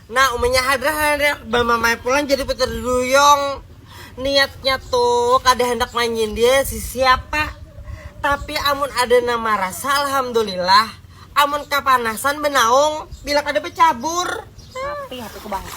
Nah umanya hadrah handak bamamai pulang jadi peterduyung niatnya tuh kada handak manyindir sisiapa tapi amun ada nang marasa alhamdulillah amun kapanasan banaung bila kada bacabur. Sapi hatiku bangsa.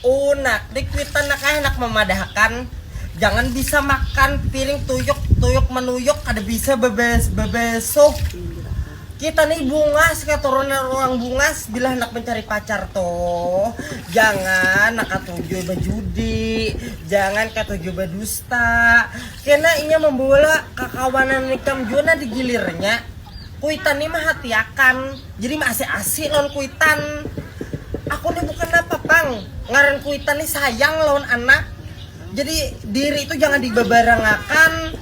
Unak, di kuitan nak ai handak mamadahakan, jangan bisa makan piring tuyuk tuyuk manuyuk kada bisa bebes bebesuh kita nih bungas katurunan orang bungas bila handak mencari pacar tuh jangan nak katuju bejudi jangan katuju bedusta kena inya membawa kakawanan ikam jua nah digilirnya Kuitan ni mahatiakan, jadi maasi-asi lawan kuitan. Aku ni bukan napa pang, ngaran kuitan ni sayang lawan anak. Jadi diri tu jangan dibabarangakan.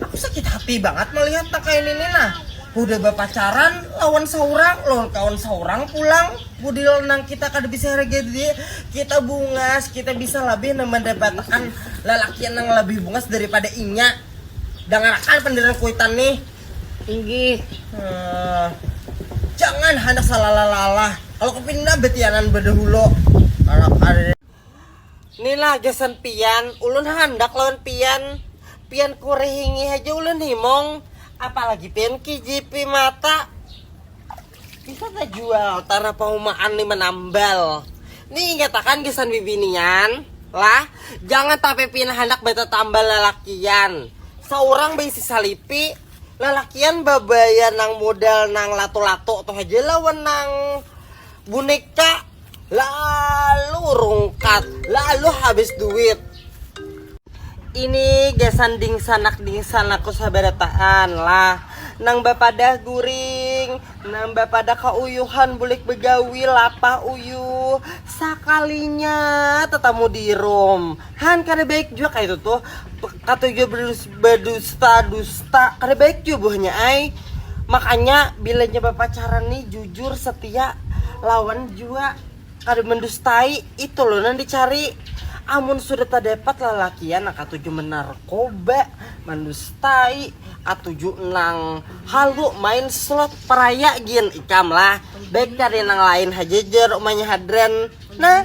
Aku sakit hati bangat malihat nang kaya nini nah. Hudah bapacaran lawan saurang, lawan kawan saurang pulang. Pudahlah nang kita kada bisa haragai diri kita bungas, kita bisa labih nang mandapatakan lalakian nang labih bungas daripada inya. Dangarakan pandiran kuitan nih. Inggih, jangan handak salalah-lalah, kalo kepindah betianan badahulo, karena kada. Ni lah gasan pian, ulun handak lawan pian, pian kurihingi haja ulun himung, apalagi pian kijipi mata. Bisa tajual tara paumaan lima nambal. Ni ingatakan gasan bibinian lah, jangan tapi pina handak batatambal lalakian. Saurang baisi salipi, lalakian babaya nang modal nang latu-latu tu haja lawan nang buneka. lalu rungkat lalu habis duit ini gasan dingsanak dingsanakku sabarataan lah nang bapadah guring nang bapadah kauyuhan bulik begawi lapah uyuh sakalinya tetamu dirum Han kada baik jua kaya itu tuh katuju berdusta-dusta kada baik jua buahnya ai makanya bila nya bapacaran nih jujur setia lawan jua kada mendustai itu loh nang dicari amun sudah terdapat lalakian nang katuju menarkoba mendustai katuju nang halu main slot peraya gin ikam lah baik cari nang lain haja jer umanya hadran nah